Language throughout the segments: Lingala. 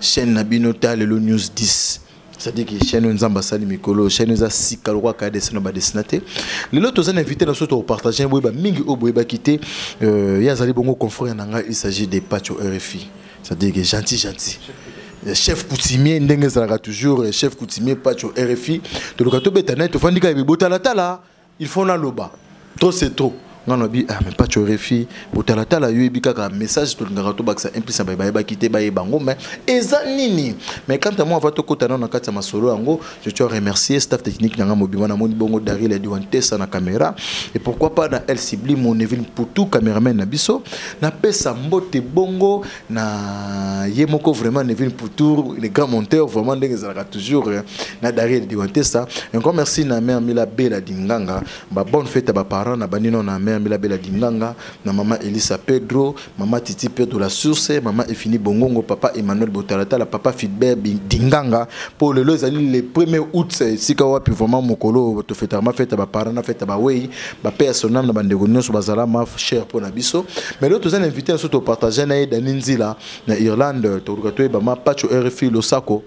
chaîne na bino ta lelo news 10 c'est-à-dire que chaîne oyo nzambe asali mikolo chaîne eza sika lokola kaya dessin na badessina te lelo toza na invité na biso tokopartage boyeba mingi oyo boyebaki te euh, ye azali bongo confrère na ngai il s'agit de pacho rfi c'est-à-dire que gentil gentil euh, chef coutumier ndenge ezalaka toujours euh, chef coutumier pacho rfi toluka tobeta naye tofandi kaka bebotalatala il faut na loba trop c'est trop nga na bi ah mais pas tu refi botala tala yo ebi kaka message to lingaka to bakisa en plus ba ba ba kité ba yeba ngo mais eza nini mais quand moi va to kota na kati ya masolo yango je te remercier staff technique na nga mobima na moni bongo Daryl Edouan Tessa na caméra et pourquoi pas na El Sibli mon Evil Poutou cameraman na biso na pesa mbote bongo na ye moko vraiment Neville Poutour le grand monteur vraiment ndenge ezalaka toujours euh, na Dariel Diwantesa encore merci na mère Mila Bella Dinganga ba bonne fête à ba parents na banino na mère Mila Bella Dinganga na maman Elisa Pedro maman Titi Pedro la source maman Efini Bongongo papa Emmanuel Botalata la papa Fidbert Dinganga pour le lelo ezali le 1er août sika wapi vraiment mokolo to fête ma fête ba parents na fête ba wei ba paix à son âme na bandeko nyonso bazala ma cher mpo na biso mais lelo toza na invité na biso topartage na ye dani nzila na irlande toluka toyeba ma pacho rfi losako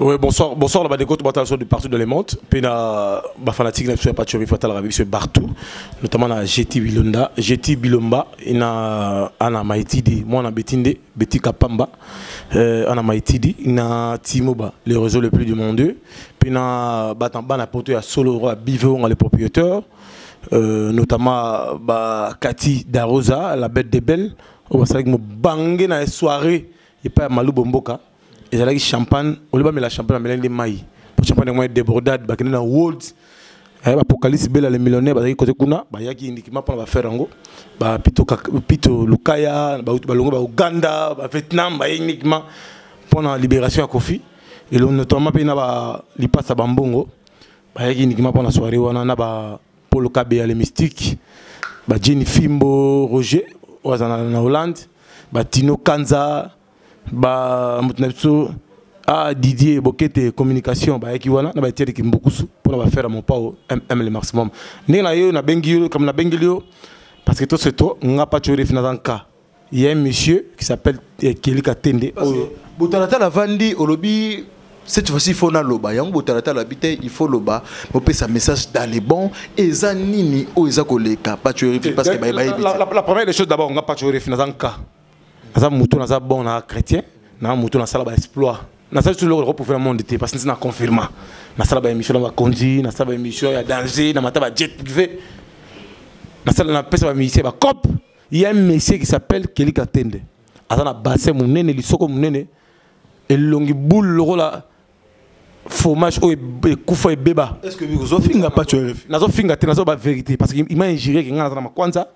Oui, bonsoir, bonsoir la Badeco, tout le de partout dans le monde. Puis la bah, fanatique de la Pacho, Fatal Arabi, c'est partout, notamment la GT Bilonda, GT Bilomba, et na Ana Maïtidi, moi na Betinde, Betty Kapamba, euh, ana maitidi na timoba le réseau le plus demandé mpe na bana poto ya solo roi biveonga le propriétaire euh, notamment ba kati darosa la bête de belle oyo basalaki mobange na soirée epai ya malubo mboka ezalaki champagne olibamela champagne amelaki nde mai po champagne yango ya débordade bakende na world eh, apocalypse bela le millionnaire bazalaki kote kuna bayaki indikima mpona bafere yango bapito lukaya balongo ba uganda bavietnam baye uniquement mpona libération ya kofi elo notamment mpe na balipasa bambongo bayaki indikima mpona soirée wana na bapolo kabe ya le mystique bajeni fimbo roger oyo aza na hollande batino kanza ba moto na biso ah didier bokete communication bayaki wana na batieli kimbukusu mpona bafere ya mopao mm le maximum ndenge na yo nabengi yo likambo nabengeli yo parce que to se to nga paco refi naza nka il y a un monsieur qui s'appelle eh, Kelly Katende oyo botalatala vandi olobi cette fois-ci il faut naloba yango botalatala bi te il faut loba bopesa message dans les bons eza nini oyo eza koleka paco refi parce que bayebi la première des choses d'abord nga paco refi naza nka naza motu naza bon na chrétien na motu nasala ba exploit nasali tuloko loko pofela monde te parce ntina confirma nasala ba émission na bakonzi nasala ba émission ya danger na mata ba jet privé nasala napesa ba musicien ba cop il y a un monsieur qui s'appelle Kelly Katende aza na bassin monene lisoko monene elongi boule lokola fromage oyo ekufa ebeba nazofinga te nazoba vérité parce que ima injure ke ngai naza na makwanza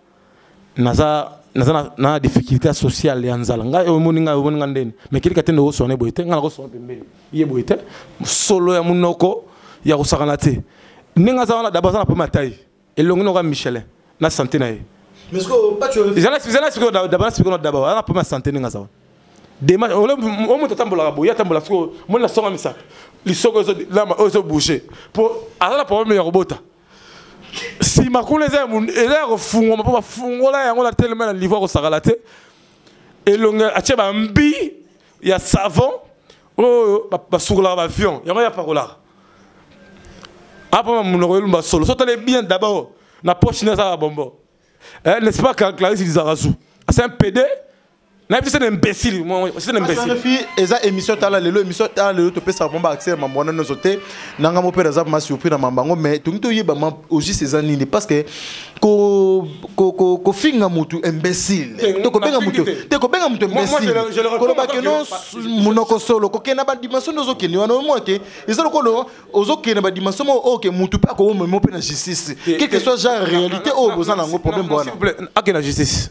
naza naza na, na difficulté sociale ya nzala ngai omoni ngai omoni ngai ndeni me kelika te ndoko sone boye te ngai nakosona pembeni ye boye te solo ya monoko ya kosakana te ndenge aza wana daba aza na problème ya tai elongi noka michelin na santé na ye zala sikoyo daba na sikoyo na daba aza na problème ya santé ndenge aza wana demarche o moto atambolaka boye atambola sikoyo moni na songa misato lisoko oyo ezobouge mpo aza na problème ya kobota nsima kuna eza ya kofungwama mpo bafungola yango na telema na niveau ya kosakala te elongi atye bambi ya savon oyo basukolaka bavion yango yapakolaka apama monoko elumba solo so tale bien d'abord na poche ne ezalaka bombo eh, n'est-ce pas clarisse lizarazu asa un pede nayebi te imbécile c'est imbécile eza émission tala lelo émission tala lelo topesaka mpo baaccès ya mambo wana nyonso te na ngai mopere aza ma surpris na mambo yango mais tolingi toyeba ma ogiste eza nini parce que kofinga motu imbécile to kobenga motu te kobenga motu imbécile koloba ke no monoko solo kokende na badimension nde ozokende wana omoi te eza lokolo ozokende na badimension moko oyo ke motu mpe akoomemo mpe na justice quelque soit genre réalité oyo boza na yango problème wana akende na justice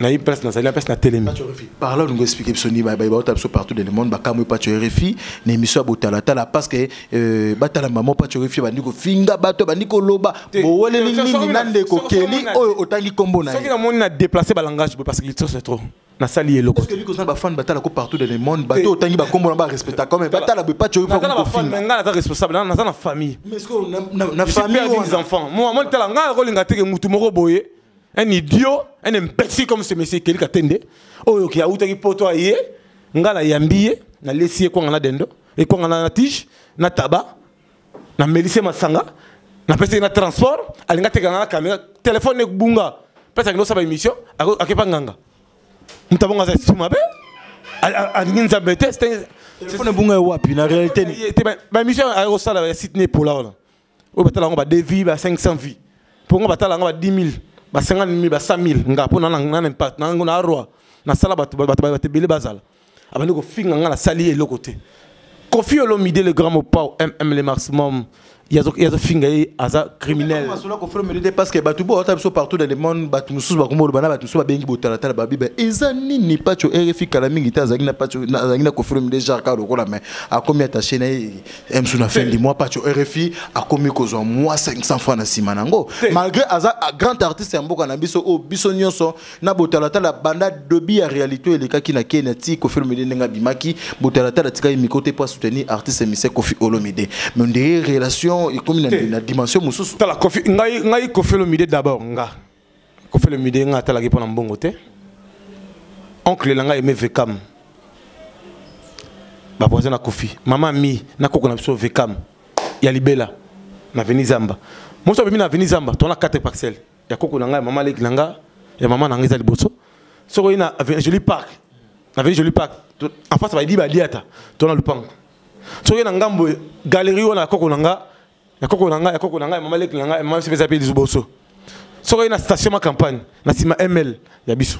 nayebi place nazali na place natelemi parla olingo explike biso nini bauta biso partout dans le monde bakamwe paco rfi na émission ya botalatala parce que euh, batala mama paco rfi bandi kofinga bato bandi koloba boweleli nini na ndeko keli oyo otangi nkombo na ye soki namoni na déplace balangage boye parce que litre c'est trop nasali eloko soki kozala bafane batala ko partout dans le monde bato otangi bakombo na barespecta comme batala boye paco rfi ngai naza responsable naza na famille na famille des enfants moi moi tala ngai nakolinga teke motu moko boye un idiot un imbécile comme ce monsieur Kelly Katende oyo ki autaki poto aye nga na yambi ye na lesi ye kwanga na dendo e kwanga na tige na taba na melise masanga na pesi na transport alinga teka na kamera téléphone ne bunga pesa kino saba émission akepa nganga mutabonga aza si mabe alingi nzambe te téléphone bunga wapi na réalité te ba émission ayosala ya site ne pola wana oyo batala yango ba 2 vie ba 500 vie mpo nga batala yango ba 10 000 ba 50 000 ba 100 000 nga mpo nana impact nango na arwa nasala bato bato ebele bazala abandi kofinga nga nasali eloko te kofi olomide le grand mopao mm le maximum yazofinga ye aza criminel parce que bato bo ata biso partout dans le monde bato mosusu bakoma oloba na bato mosusu babengi botalatala babiba eza nini paco rfi kala mingi te azalaki na paco azalaki na kofilomide jarka lokola mai akomi attaché na ye emsu na fin du mois pacho rfi akomi kozwa mwa 500 francs na nsima na yango malgré aza grand artiste ya mboka na biso oyo biso nyonso na botalatala banda dobi ya réalité elekaki na kenya ti kofi olomide ndenge abimaki botalatala atikaki miko te mpo asoutenir artiste mise kofi olomide mais ndeye relation ekomi na dimension mosusu tala kofi ngai kofi olomide d'abord nga kofele mide nga atalaki mpo na mbongo te oncle na ngai eme vekam bavoisin na kofi mama mi na koko na biso vekam ya libela na veni zamba mosi abimi na veni zamba tona 4 parcelle ya koko na ngai ya mama leki na nga ya mama na ngai eza liboso soki oyi na jolie park na veni jolie park en face bayibi baliata tona lupango soki na ngambo galerie wana ya koko na nga ya koko na ngai ya koko na ngai ya mama leki na ngai ya mama biso mpeza mpe lizuboso soki oye na station ma campagne na nsima ml ya biso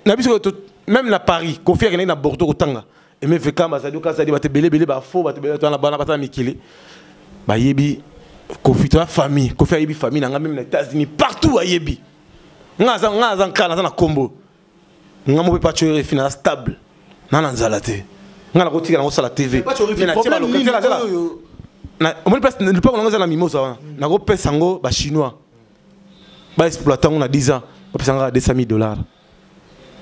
na biso même na paris kofi akendaki na bordeaux kotanga emeveka bazali okazali bato ebelebele bafo bato ebele bana bana baza na mikili bayebi kofi toya famille kofi ayebi famille na ngai meme na états-unis partout ayebi ngai aza nkana aza na nkombo nga mope pacho erefi naza stable na na nzala te nga nakotikala nakosala tv omoni place lipako nango eza na mimosa wana nakopesa yango bachinois baexploite yango na 10 ans bapesa nga 200 000 dollars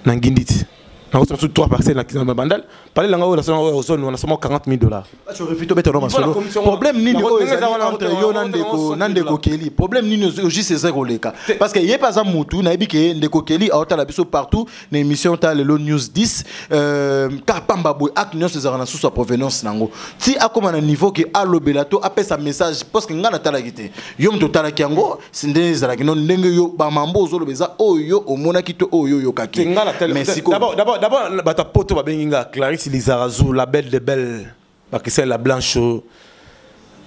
na nginditi nakosala mosusu 3 parcelle na bandal Parle na nga oyo nasala oyo ozoni wana somo 40 000 dollars. Acho refito beta no masolo. Problème nini oyo ezali entre yo na ndeko na ndeko Kelly? Problème nini ozo juste eza koleka? Parce que ye paza mutu na yebi ke ndeko Kelly aota la biso partout na émission ta lelo news 10 euh ka pamba boy ak nyonso ezaka na susu provenance nango. Ti akoma na niveau ke alobela to apesa message parce que nga na talaki te. Yo mto talaki yango nde ezalaki no ndenge yo bamambo ozoloba eza oyo omonaki to oyo oyokaki bato ya poto babengi nga clarisse lizarazu la belle de belle bakisali la blanche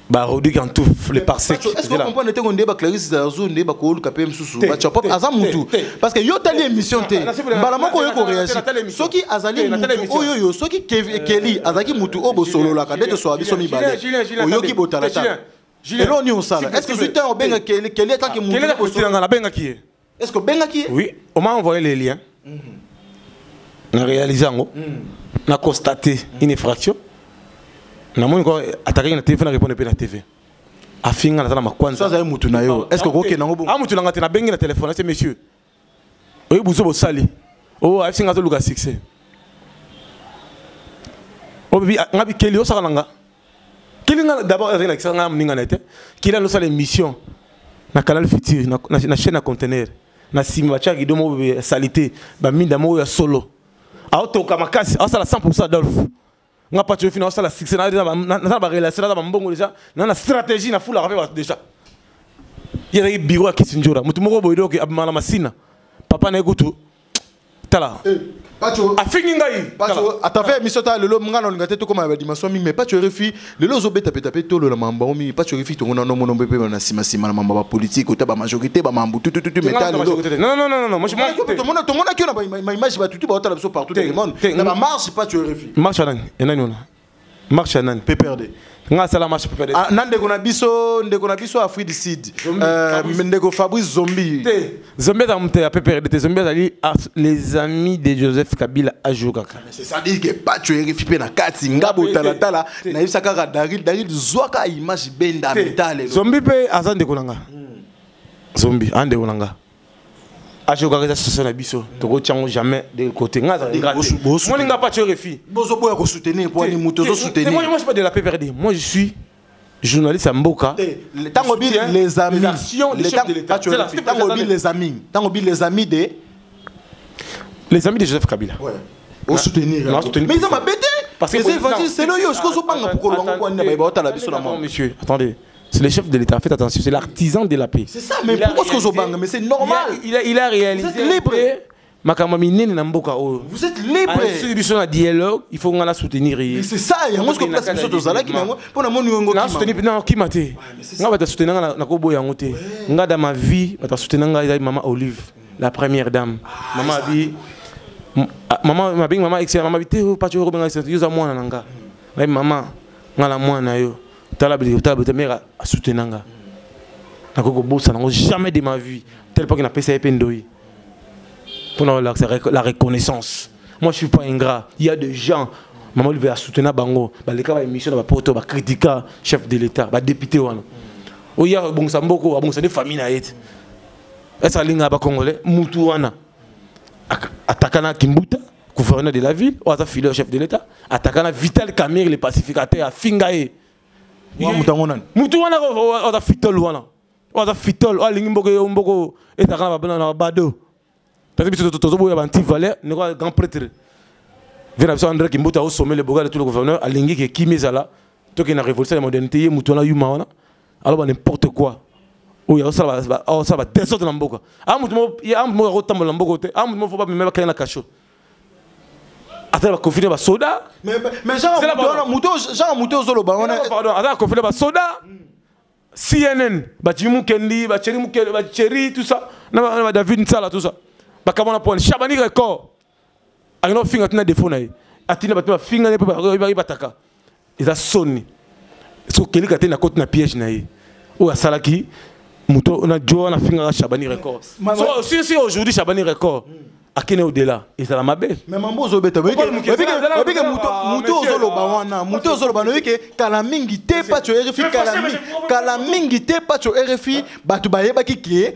barodi kantouf le parsekomprendre ntango nde baclarisse lizarazu nde bakoluka mpe mosusu bachapop aza motu parce que yo otali émission te mbala moko oyo koreagir soki azali motu oyo yo soki keli azalaki motu oyo bosololaka nde toswaa biso mibale oyoki botalatala Julien, eloo nini osala est ce que ozwi temps obenga keli keli atake ah, mokeli akosila ngai nabengaki ye est ce que obengaki ye oui oma envoye le lien mhm. na réalise yango mhm. na constate mhm. une effraction namoni ko atakaki na tv mpe na répondre mpe na tv afinga naza na makwanza azali motu na yo est ce que okokende yango bongo a ah, motu na ngai te nabengi na telefone ase monsieur oyebi buzoba osali o oh, ayebisi nga azoluka succès obi oh, nga bikeli osaka na nga keli nga d'abord ezali lakisa nga moninga na ye te keli anosala émission na canal futur na, na, na chaîne ya contenaire na nsima batyaka kido moko ya salite baminda moko ya solo aotoka makasi aosala 100 adolphe nga pati oyo fina osala succès naza barelation naza bambongo déjà na na stratégie na fulaka mpe bato déjà ye azalaki biro ya kisinjora moto moko boye doke abima na masina papa na ye kutu tala eh, Pacho afingi ngai Pacho atave émission ta lelo nga na lingate tokoma ba dimension mingi mais Pacho refi lelo ozo beta beta pe tolo la mamba o mingi Pacho refi tongo na no mono mpe na sima sima na mamba ba politique ota ba majorité ba mambu tout tout tout mais ta lelo non non non non moi je m'en fous tongo na tongo na kio na ma image ba tutu ba otala biso partout dans le monde na ba marche pas tu refi marche nani et nani ona marche nani PPRD nga sala marche PPRD ah, na ndeko na biso ndeko na biso Afrique du Sud euh, ndeko Fabrice Zombie te Zombie za mte ya PPRD te Zombie azali les amis de Joseph Kabila ajour kaka ah, c'est ça dit que pas tu refi pe na kati nga botala tala na yisa kaka Daryl Daryl zwaka image benda mitale Zombie pe azande kolanga hmm. Zombie ande kolanga aje okaka eza situation na biso tokotya yango jamais de côté ngai aza degradeomoni ngai pace refi bozoboya kosoutenir poani moto ozosoutenirmoi je suis pas de la pprd moi je suis journaliste ya mboka ntango bi les amisntango bi les amis ntango bi les amis de les amis de joseph kabila osoutenir mais eza mabe te parce que c'est évangile c'est le yo ce que ozobanga pour kolobanga kwani na baye baotala biso na mwa monsieur attendez C'est le chef de l'État, faites attention, c'est l'artisan de la paix. C'est ça, mais pourquoi est-ce que vous bang Mais c'est normal. Il a, il a, réalisé. Vous êtes libre. makambo minene na mboka oyo vous êtes libre ah, soki biso na dialogue il faut nga na soutenir ye c'est ça yango soki place biso tozalaki na yango mpo na moni yango na soutenir na kima te nga bato soutenir nga na koboya yango te nga da ma vie bato soutenir nga ezali mama olive la première dame ah, mama abi ah, mama mabengi mama excellent mama abi te oh, pacho obenga excellent yo za mwana na nga nayebi mama nga na mwana na yo tala biliki tala bete mère a soutenir nga nakoki kobosana yango jamais de ma vie tel pas que napesa ye mpe ndoyi mpo na la reconnaissance moi je suis pas ingrat il y a des gens mama olive a soutenir bango baleka ba émission na bapoto bakritika chef de l'état badepute wana oya kobongisa mboko abongisa nde famille na ye te esa alinga bakongole mutu wana atakana kimbuta gouverneur de la ville oyo aza filière chef de l'état ataka na vital camire le pacificateur afinga ye moto yango nani motu wana aza fitol wana oyo aza fitol oyo alingi mboko yo mboko etaka na bado taza biso tozoboya banti valeur ndeko ya grand prêtre vie na biso andre kimbuta osomele boga de tout le gouverneur alingi ke kimi ezala tokende na révolution ya modernité ye motu wana yuma wana aloba n'importe quoi oyo aosala badesordre na mboka a moto moko akotambola na mboka te a moto moko fo bamema bakei na kasho ata na bakonfine basoda genre moto ozoloba wana ata na konfine basoda cnn bajimi mukendi bacheri tout ça na badavid nsala tout ça bakamona pone shabani record akenda kofinga tina defo na ye atina bato bafingani mpe bayebataka eza soni soki okelika te nakoti na piège na ye oyo asalaki moto na jo wana afingaka chabani record sisi aujourd'hui chabani record hmm. akende odela ezala mabe moto ozoloba wana moto ozoloba noyebi ke kala mingi te paco rfi kala mingi te paco rfi bato bayebaki ke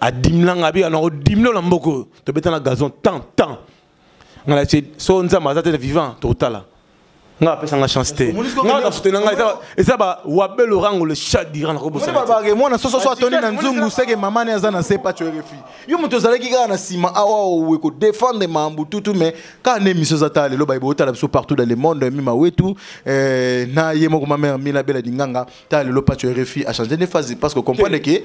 adimlanga abika na odimlo na mboka oyo tobeta na gazon tant tant ngala se so nzambe aza te vivant tokotala nga apesa nga chance te nga na foto na nga eza ba wabel orango le chat dira na kobosa ba ba mwana soso so atoni na nzungu seke mama ne aza na se pacho refi yo moto ozalaki kaka na sima awa owe ko défendre mambu tutu mais ka ne miso za tale loba ibo tala biso partout dans le monde mima wetu eh, na ye moko ma mère mila bela dinganga ta lelo pacho rfi achange nde fazi parce que comprendre ke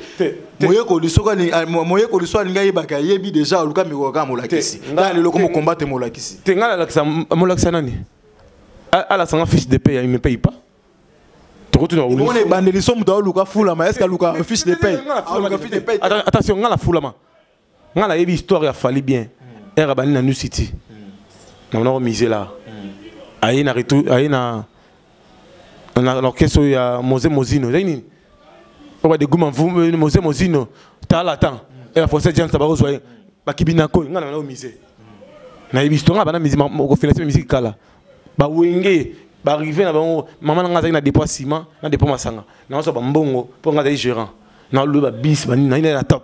moyekoli soki ah, moyekoli so alingi ayebaka ayebi déjà oluka mikolo kaka molakisi ta lelo ko mokombate molakisi te ngai nalakisa molakisa nani alasanga fiche de paye me paye pas tokotuna ebandeli so moto aoluka fulama est ce que aluka fiche de paye attention ngai na fulama nga na yebi histoire ya Fally bien era hmm. bani na New City na mona ko miser là aye na retour aye na na orchestre ya Mose Mozino ndenge nini oba de guma mvume euh, Mose Mozino tala temps et la française Jean Tabaro soye bakibina ko nga na mona ko miser na yebi histoire nga bana miser ko financer musique kala ba wenge baarrive na bango mama na ngai azalaki na dépôt ya ciment na dépôt masanga naosa bambongo mpo ngai azali gérant naloba bisi banini naina na top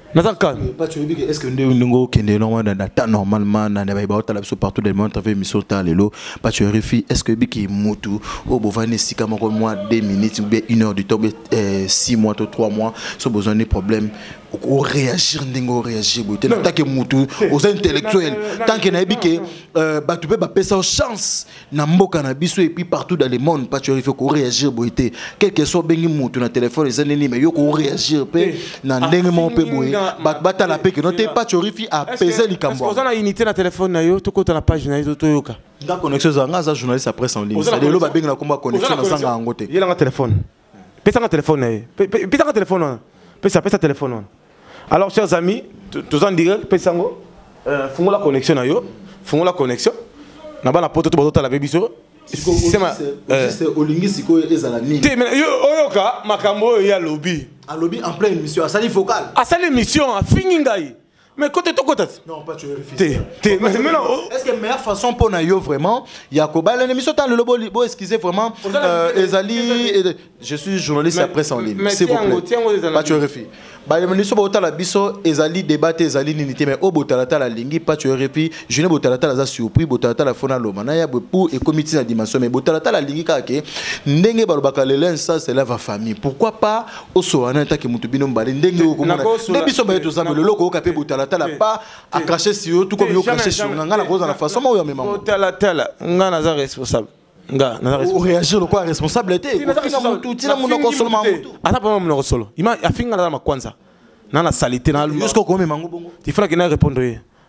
naza kaka bato oyebi ke estce nde ndenge okende normal na temps normalement na baye baotala biso partout dans le monde travers émission ta lelo bato ya refi estce oyebi ke motu oyo bovandi esika moko mwa 2 minutes ou bien une heure du temps be 6 mois to 3 mois so bozwa nde problème okoreagir ndenge oreagir boye te na tanke motu oza intellectuel tanke nayebi ke bato mpe bapesa yo chance na mboka na biso et puis partout dans le monde pas tu arrives ko réagir boye te quel que soit bengi mutu na téléphone eza nini mais yo ko réagir pe eh, na ndenge mo pe boye ba batala pe que non te pas tu arrives à peser likambo oza na unité na téléphone na yo tokota na page na yo toyoka nga connexion za nga za journaliste à presse en ligne c'est le ba bengi na combat connexion na sanga yango te yela nga téléphone pesa nga telefone na ye pesa nga telefone wana pesa pesa telefone wana alors chers amis toza en direct pesa yango euh, fungola connexion na yo fungola connexion na bana poto to bazotala mpe biso euh. olingi sikoyo ezala nini te oyoka makambo oyo ye alobi alobi en plein émission asali vocal asali émission afingi ngai mais kote tokota te te mais non oh. est ce que meilleure façon mpo na yo vraiment ya kobala na émission ntango lelo bo bo excuse vraiment euh, ezali je suis journaliste ya presse en ligne s'il vous plaît pacho refi baministre botala biso ezali débat te ezali nini te mais oyo botalatala alingi pacho refi june botalatala aza surpris botalatala fona loma na ya bwe mpo ekomi ntina dimension mais botalatala alingi kaka ke ndenge balobaka lelo nsas elava famille pourquoi pas osola na etake moto bino mbale ndenge oyo komona nde biso baye toza melo eloko oyoka mpe botalatala pa akrache si yo tukomi yo krache si nga ngai nakozala na façon maoyo amema botalatala ngai naza responsable nga naza responsable réagir lokola responsable te ofinga motu tina monoko solo ma motu ata pama monoko solo ima afinga naza makwanza na na salite na luma yosko komema ngo bongo tifuna kina répondre ye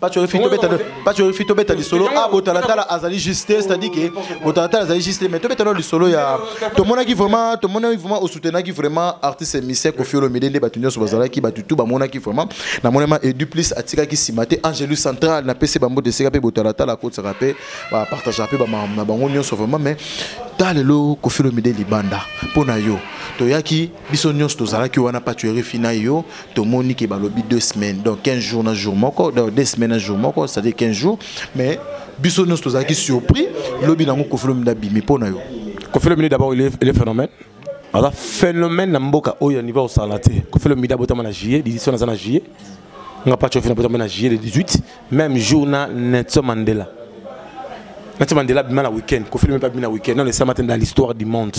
pachorifi tobeta pachorifi tobeta lisolo a ah, botalatala azali juste c'est-à-dire que botalatala azali juste mais tobeta no lisolo ya tomonaki vraiment tomonaki vraiment osoutenaki vraiment artiste émissaire Koffi Olomide nde bato nyonso bazalaki bato tout bamonaki vraiment na monema edu plus atikaki nsima te angelu central na pese bambo deseka mpe botalatala akotisaka mpe bapartagea mpe na bango nyonso vraiment mais ta lelo Koffi Olomide libanda mpo na yo toyaki biso nyonso tozalaki wana pachorifi na yo tomoni ke balobi deux semaines donc 15 jours na jour moko donc deux semaines na jour moko c'est-à-dire 15 jours mais biso nyonso tozalaki surpris lobi nango kofilo minde abimi mpo na yo kofilo minde d'abord il est phénomène aza phénomène na mboka oyo ya niveau osala te kofilo minde abotama na juillet l'édition naza na juillet nga pacho fina botama na juillet le 18 même jour na nelson mandela nelson mandela abima na week-end kofilo minde abimi na week-end non esalama te dans l'histoire du monde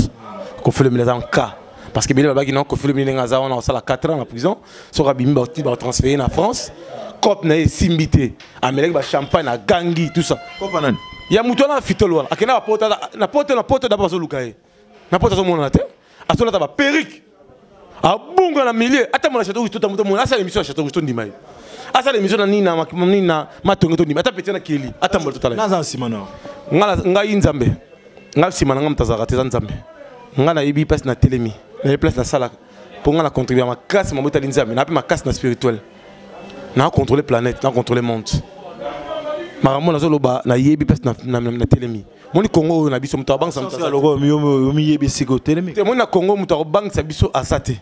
kofilo minde aza en cas parce que bele babaki na kofi lobi ndenge aza wana kosala 4 ans na prison soki abimi bauti batransfere na france cope na ye esimbi te amelaki bachampagne na gangi tout ça kopa nani ya moto wana afitole wana akenda bapota na poto na poto daba bazoluka ye na poto azomonana te azolata baperike abunga na milieu ata mona chateau kusto tamuta mona asala émission ya chateau kusto ndima ye asala émission na nini na nini na matonge to ndima ata petit na keli ata mbola totala naza nsima na ngai nzambe nga sima na nga moto azalaka te eza nzambe nga nayebi place na telemi nayebi place nasalaka mpo nga na contribue ya makasi mabotali nzambe na mpe makasi na spirituel na contrôle planète na contrôle monde makambo nazoloba nayebi place na telemi moni congo oyo na biso moto abangisaomiyebi sika otelemi te moni na congo moto akobangisa biso asa te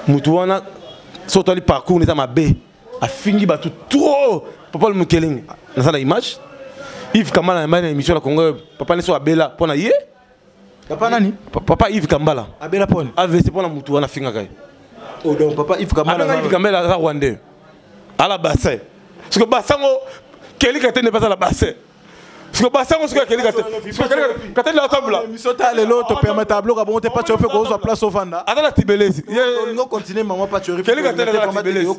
moto wana so otali parcours eza mabe afingi bato trop papa mokelenge naza na image yves kambala yambali na émission na congo papa neso abela mpo na ye papa nani papa yves kambala abela mponi avc mpo na motu wana afingaka ye oh, donc papa yves kambala abengaka yves kambala aza rwandais ala bassin soki basango kelika te nde bazala bassin siko basango siko akeli kateli atambola miso ta lelo topermeta abloka bongo te pacho mpe kozwa place ovanda aza na tibelesi olingo continue mama pacho keli kateli aza na tibelesi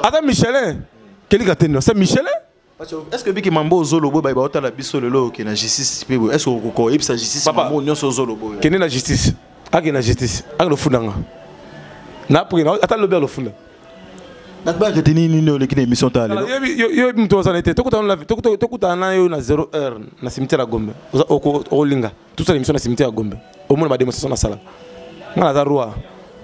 aza michelin keli kateli asa michelin est-ce que biki mambo ozolobo baye baotala biso lelo oke na justice mpe est-ce que okoyebisa justice mambo nyonso ozolobo kende na justice ake na justice ake lofunda nga na après na ata lobi alofunda nakbaka te nini nini oleki na émission ta lelo yo moto ozana te tokutana na yo na 0 heure na cimetière ya gombe okolinga tosala émission na cimetière ya gombe omona bademonstration nasala nga naza roi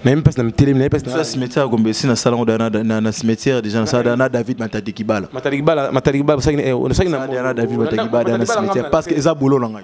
naye mpasi na mitelemi naye mpasi na cimetière ya gombe esi nasala ngo na cimetière déjà nasala na david matadikibala matadikibala matadikibala osaki na david matadikibala na cimetière parce que eza bolo na ngai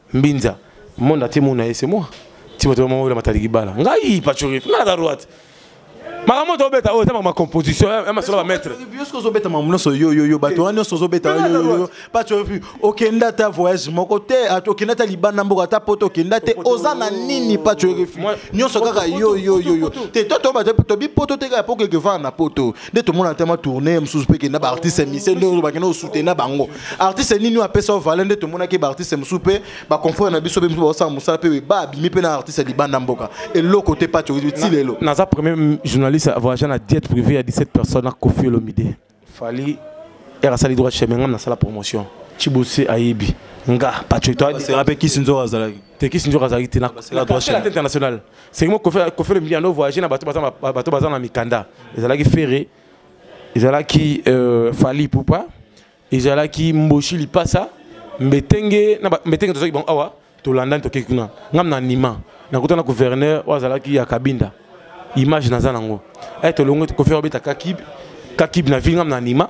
mbinza monde atie mona ye c'est moi ti bato bamama oyo matali kibala ngai pachorif ngai naza droite makambo to obeta oyo eza mama composition ya masolo ba maître biosque ozobeta makambo nyonso yoyoyo bato wana nyonso ozobeta yoyoyo pachorif okenda ata voyage moko te okenda ata libanda mboka ata poto okenda te oza na nini pachorif nyonso kaka yoyoyoyo te to tobato tobi poto te kaka po kekevana na poto nde tomona ata ma tourne mosusu mpe kenda baartiste mise nde bakenda kosutena bango artiste nini oyo apesa valeur nde tomonaki baartiste mosusu mpe baconfrere na biso mpe mosusu baosala mosala mpe ba abimi mpe na artiste ya libanda mboka eloko te pati ti lelo naza premier journaliste avoyage na diete privé ya 17 personnes na kofi olomide fali ere asali droit chemin ngai nasala promotion chibose ayebi nga pacho mpe kisi nzoko azalaki te kisi nzoko azalaki te na droit chemin international C'est moi Koffi Koffi Olomide no voyager na bato baza bato baza na mikanda. Ezalaki Ferre, ezalaki euh, Fally Ipupa, ezalaki Mboshi Lipasa, Mbetenge na Mbetenge tozaki bango awa tolandani tokei kuna. Ngam na Nima, nakutana gouverneur oyo azalaki ya Kabinda. Image naza nango. Eh tolongwe Koffi obeta Kakib, Kakib na ville ngam na Nima.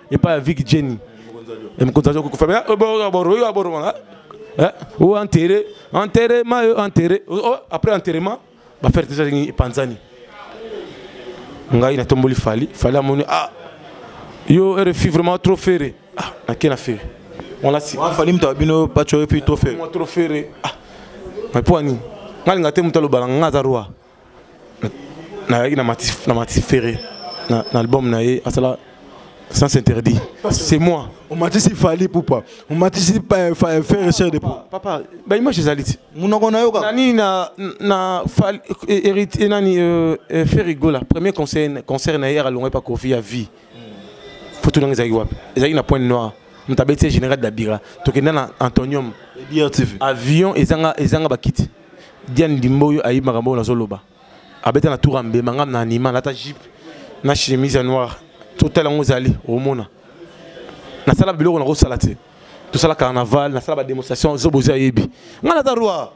epai ya viki jenny mokonzi ya jokufa me oyo aboromana o enterre enterrement yo enterre après enterrement bafere te ezali epanzani ngai natomboli fali fali amoni ah yo rfi vraiment trop fere ah nake na fere fali moto ya bino paco efi trop fere trop fere ah mais mpo ani ngai alinga te moto alobala ngai aza roi nayaki na matisi ferre na album na ye asala sans interdit c'est moi omatisi fali pupa omatisi euh, euh, ferre cher de papa baimage ezali ti monoko na yo kaka nani na na héritier euh, nani ferre gola premier concert concert na ye alongaki pa kofi ya vie foto nanga ezalaki wapi ezalaki na pointe noire moto abeti ye général dabira tokenda na antonium avion ezanga ezanga bakiti Diane Dimbo oyo ayebi makambo oyo nazoloba abeta na tour ambe mangam na anima nata jipe na chemise ya noire totala yango ozali omona nasala biloko nakosala te tosala carnaval nasala bademonstration zobo ozi ayebi ngai naza roi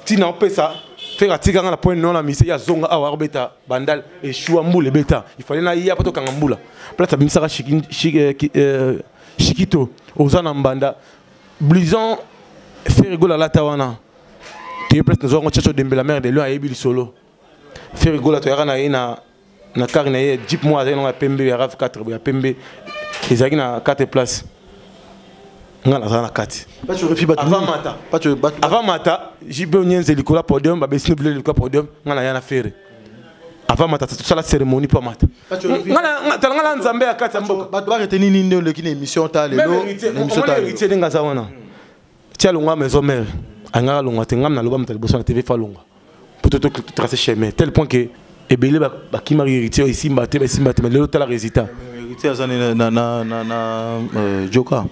ntina opesa feka atika ngai na point no na mise ya zonga awa akobeta bandal eshua mbula ebeta ifale naya mpo tokanga mbula place abimisaka shikito eh, eh, oza na mbanda blouson ferigol alata wana toye place nazwa yango chacho dembe la mare de lion ayebi lisolo ferigola toyaka na ye na na kare na ye jeep moko azali nango ya pembe ya rave 4 ya pembe ezalaki na 4 place nga naza na kati avant mata jibe onyenze likolo ya podium babesini bile likolo ya podium nga naya na fere avant mata tosala cérémonie mpo amata tala ngala nzambe ya kati ya mboka bato bareteni nini nde oleki na émission ta leloémission ndenge aza wana ti alongwa maison mare angaka alongwa te ngam naloba moto ya liboso na tv fa alongwa mpo to trace chemin tel point que ebele bakimaki héritier esimba te basimba te mais lelo tala résultat héritier aza na euh, joka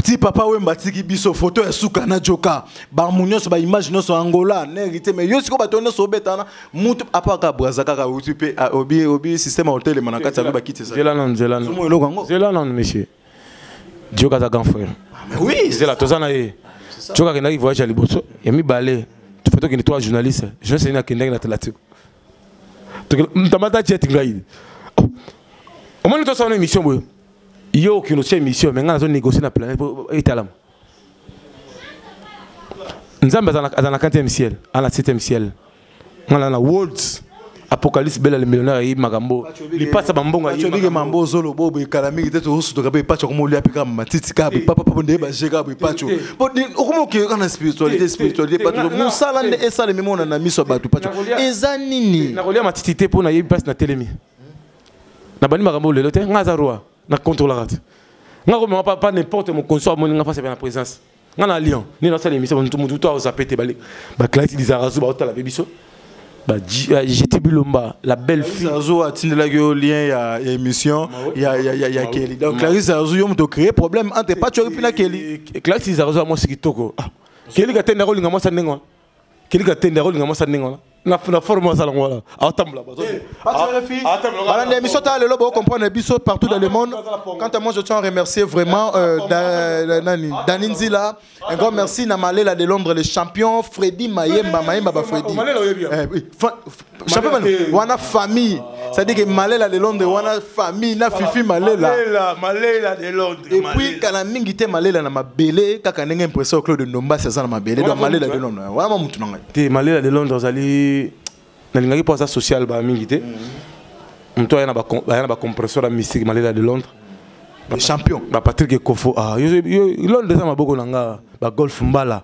ti papa wemba atiki biso foto ya suka na joka bamu nyonso baimage nyonso angola na hérité mais yo sikoyo bato nyonso obetana mutu apa kaka braza kaka outi mpe ah, obi obi système ya otelema na kati ya bakiti ezala eloko yango zela nanu monsieur joka aza grand frère ah, oui zela toza na ye joka akendaki voyage ya liboso ya mibale foto okende trois journaliste journaliste nini akendaki na atlantique ntamba ta jet ngai omoni tosala na émission boye yo okino tia émission me ngai nazo négocier na planète po etalama nzambe azala na 4e ciel ana 7e ciel ngai na worlds apocalypse bela le millionnaire ayebi makambo lipasa bambongo acobike mambo ozolo bobo ekala mingi te tozosutoka mpe epaco okoma olia mpe kaka matiti kaka boye papa papa ndeye baje kaka boye paco okoma okeye kaka na spiritualité spiritualité paco mosala nde esalemi mona na miso ya bato paco eza nini nakolia matiti te mpo nayebi mpasi natelemi nabandi makambo lelo te ngai aza roi na controlaka te ngai komema papa n'importe mokonso amoni ngai mpasi ape na présence nga na lion nini nasala emission mutu mutu to aozape te bale baklasi lizarazu baotala mpe biso jete bilomba la belle fille azo atindelaki yo lien ya émission ya ya ya ya Kelly donc Clarisse azo yo moto créer problème entre Pacho et Pina Kelly Clarisse azo moi sikitoko Kelly katenda ko linga moi sa ndenge kili katende akolinga mwasi ya ndenge wana na forme azala ngo wana atambola bana nde biso ta lelo bocomprendre biso partout dans le monde quant à moi je tiens à remercier vraiment euh, euh, nani dani nzila un grand merci na malela de londres le champion fredi mayemba mayemba ba fredi Chapeau bana wana famille c'est-à-dire que Malela de Londres wana famille na Fifi Malela Malela Malela de Londres et puis kana mingi te Malela na mabele kaka ndenge impression Claude Ndomba ça na mabele donc Malela de Londres wana mutu na ngai te Malela de Londres azali nalingaki mpo aza social ba mingi te moto aya na bacompresseur ya mystique malela de londres champion bapatrick ekofo ah, londres eza maboko na nga bagolf mbala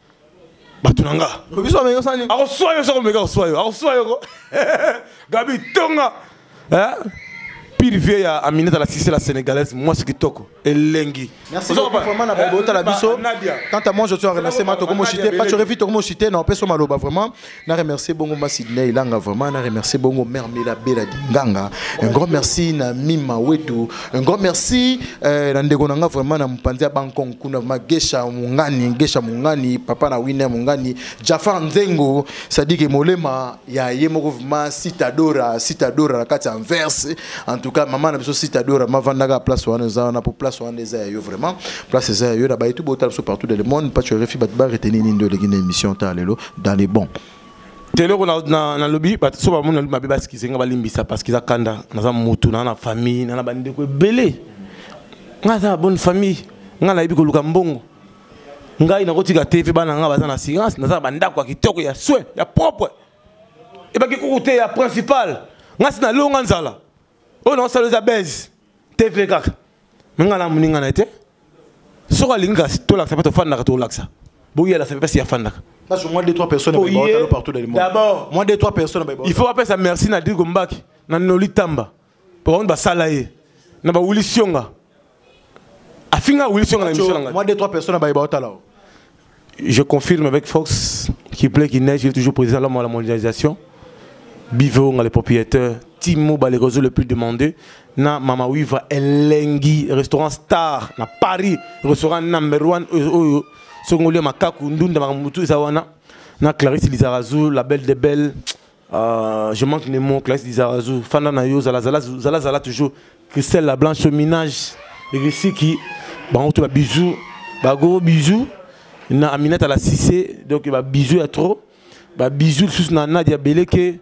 bato na nga akoswa yo soko meka akoswa yo akoswa yo ko gabi tonga pire vie ya aminata la sisi la sénégalaise mwasi kitoko elengi otala biso quant à moi je suis en renacema tokomoshite pachorevi tokomoshite na opeso maloba vraiment Na remercier bongo ma Sydney Langa vraiment na remercier bongo mère Mela Bela Dinganga un grand merci na Mima Wetu un grand merci euh, na ndeko nanga vraiment na mpanzi ya Bankong kuna ma Gesha Mungani Gesha Mungani papa na Winner Mungani Jafar Nzengo Sadike Molema ya ye moko vraiment Citadora Citadora na kati en verse en tout cas maman na biso Citadora ma vandaka place wana za na pour place wana eza yo vraiment place eza yo na ba tout botal so partout dans le monde pas tu refi bat ba retenir ni ndo le émission ta lelo dans les bons teleko nalobi bato so bamoni nalobi mabe basikise nga balimbisa parce que eza kanda naza motu naa na famille naa na bandeko ebele nga aza na bonne famille nga nayebi koluka mbongo ngai nakotika te mpe bana nga baza na assurance naza na bandako ya kitoko ya soin ya propre ebaki kuku te ya principal nga si nalonga nzala oyo naosala eza base te mpe kaka me ngai na moninga na ye te soki alingi kasi tolakisa mpe tofandaka tolakisa boyela sape mpasi yafandaka Parce que moi, deux, trois personnes, oh, yeah. partout dans le monde. D'abord, moi, deux, trois personnes, il faut appeler ça merci Nadir Gombaki, Nanoli Tamba, pour on va salayer, n'a pas Willy Sionga, afinga wilson na misala ngai moi deux trois personnes baye baotala o je confirme avec force qui plaît qui neige il est toujours président l'homme à la mondialisation bivo nga le propriétaire timo balekozo le plus demandé na mama wiva elengi restaurant star na paris restaurant number one oyo euh, euh, euh, soki ngoli ya makaku ndunda makambo motu eza wana na clarisse lizarazu la belle de belle Uh, je manque les mots, Clarisse Dizarazu, Fanda Nayo, Zala Zala, Zala Zala toujours, Christelle la Blanche, Minage, Risiki, Bangoto, bisous, bah gros bisous, na Aminata la Cissé, donc bah bisous à trop, bah bisous sous na Nadia Beleke,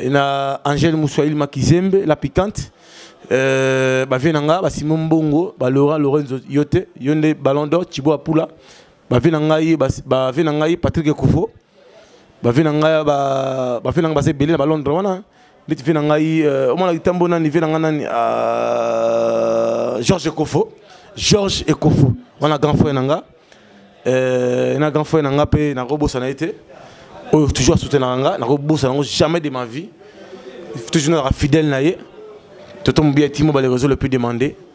na Angèle Moussouaïl Makizembe, la piquante, euh, bah Venanga, bah Simon Bongo, bah Laura Lorenzo Yote, Yonde Ballon d'Or, Thibaut Apula, bavi na ngai bavi na ngai patrik kufo bavi na ngai bavi na ngai baza ebele na balondre wana neti vi na ngai euh, omona litambo nani vi na ngai nani euh, george ekofo george ekofo wana grand frère na nga euh, na grand frère na nga mpe nakobosana ye te oyo toujours asoutenaka nga nakobosana yango jamais de ma vie toujours nazalaka fidèle na ye toto mobiya timo baleka ezo le plus demandé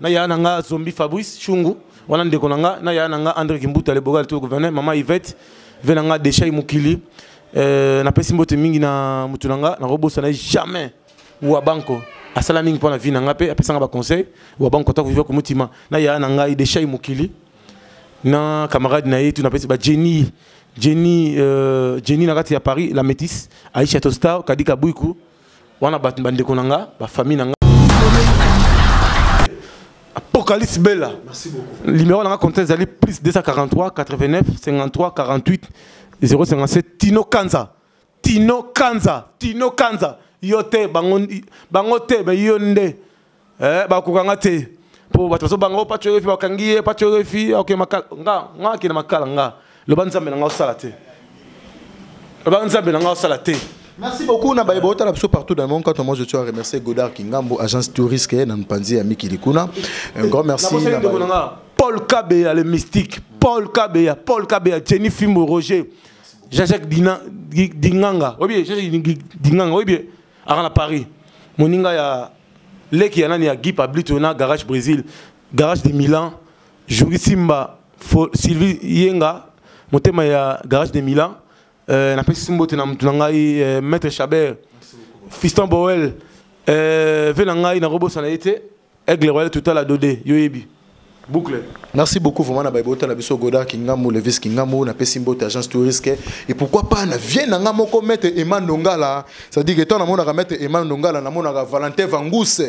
na yaya na nga zombi fabrice shungu wana ndeko na nga na yaya na nga andre kimbuta le bogal to gouverneur mama yvette ve na nga deshai mokili euh, napesi mbote mingi na motu na nga nakobosana jamais wa banko asala mingi mpo na vie na nga mpe apesanga baconseil wa banko ta koviva komotima na yaya na ngai deshai mokili na camarade na ye tu napesi bajeni jeni euh, jeni na kati ya paris la métisse aisha tostar kadika buiku wana bato bandeko na nga bafamille na nga apocalypse bella numéro na nga compte ezali plus 243 89 53 48 057 tino kanza tino kanza tino kanza yo te bango, bango te bayo nde eh bakoka nga te po bato bazobanga o oh, pacho refi bakangi ye pacho refi oke makala nga nga akende makala nga loba nzambe na nga osala te loba nzambe na nga osala te Merci beaucoup na baye botala biso partout dans le monde quand moi je tiens à remercier Godard Kingambo agence touriste na Mpanzi ya Miki Likuna un grand merci na Paul Kabeya le mystique Paul Kabeya Paul Kabeya Jenny Fimbo Roger Jean-Jacques Dinganga oye bien Jean-Jacques Dinganga oye bien à Paris moninga ya leki ya nani ya Guy Pablito na Garage Brésil, Garage de Milan, Jouri Simba, Fo, Sylvie Yenga, motema ya Garage de Milan. Euh, na pesi mbote na mutu na ngai euh, Maître Chabert, Fiston Boel, euh, ve na ngai na kobosana ye te, Aigle Royal Total Adode, yo yebi. boucle merci beaucoup vraiment na baibota na biso goda kingambo levis kingambo na pesi mbote agence touriste et pourquoi pas na vie na nga moko maître Emma Ndongala ça dit que tant na monaka maître Emma Ndongala na monaka Valentin Vangousse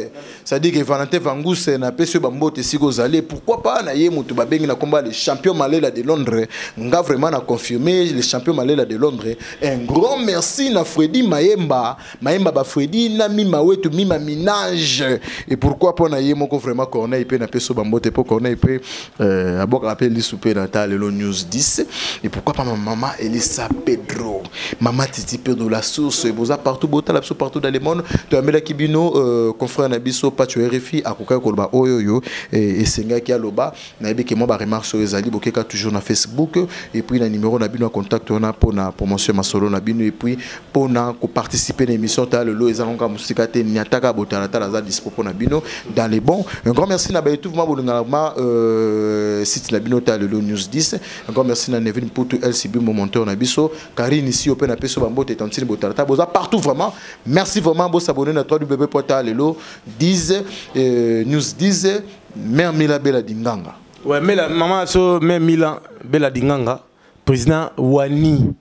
ça dit que Valentin Vangousse na pesi ba mbote siko zali pourquoi pas na ye mutu ba bengi na combat le champion Malela de Londres nga vraiment na confirmer le champion Malela de Londres un grand merci na Freddy Mayemba mayemba ba fredi na mima wetu mima minage et pourquoi pona ye moko vraiment corneille pe na peso ba mbote po corneille pe euh, abokaka pe lisu pe na ta lelo news 10 et pourquoi pas ma maman elisa pedro mama titi pedro la source boza partout botala biso partout dans le monde toyamelaki bino euh, confrère na biso pacho rfi akokaki koloba oyo oyo esengaki aloba nayebi ke mwa ba remarques oyo ezali bokeka toujours na facebook et puis na numéro na bino ya contact wana mpo na promotion ya masolo na bino et puis mpo na koparticiper na émission ta lelo eza ngonga mosika te niataka botalatala aza dispo mpo na bino dans les bons un grand merci na baetuve ma bolingaka ma euh, site na bino ta lelo news 10 un grand merci na nevin mputu lcb momonteur na biso karine isi yo mpe na peso bambote tantine botalatala boza partout vraiment merci vraiment bosabone na 3 www.talelo 10 euh, news 10 mère mila bela dinganga ouais mela mama so mère mila bela dinganga président wani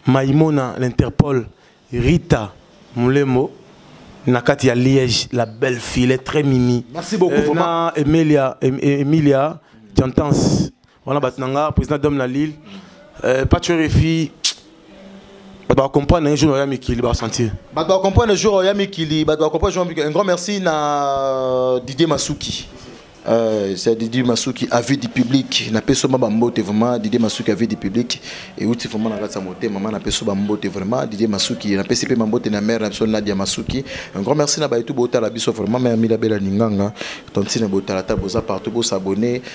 maimona l'interpol rita mulembo na kati ya liège la belle fille très mimi merci beaucoup euh, vraiment emilia emilia jantance wana bato na nga président dome na lille euh, pacho refi bato bacomprendre un jour oya mikili basentir bato bacomprendre un jour oya mikili bato bacomprendre jour mikili un grand merci na euh, didier masuki Euh, c'est Didi Masuki, avis du public. Na peso ma bambote vraiment, Didi Masuki, avis du public. Et outi vraiment na ratsa moté, maman na peso bambote vraiment, Didi Masuki, na peso pe mambote na mère na peso Nadia Masuki. Un grand merci na baitu bota la biso vraiment, mère Mila Bella Ninganga, tantine bota la table, boza partout, bo s'abonner.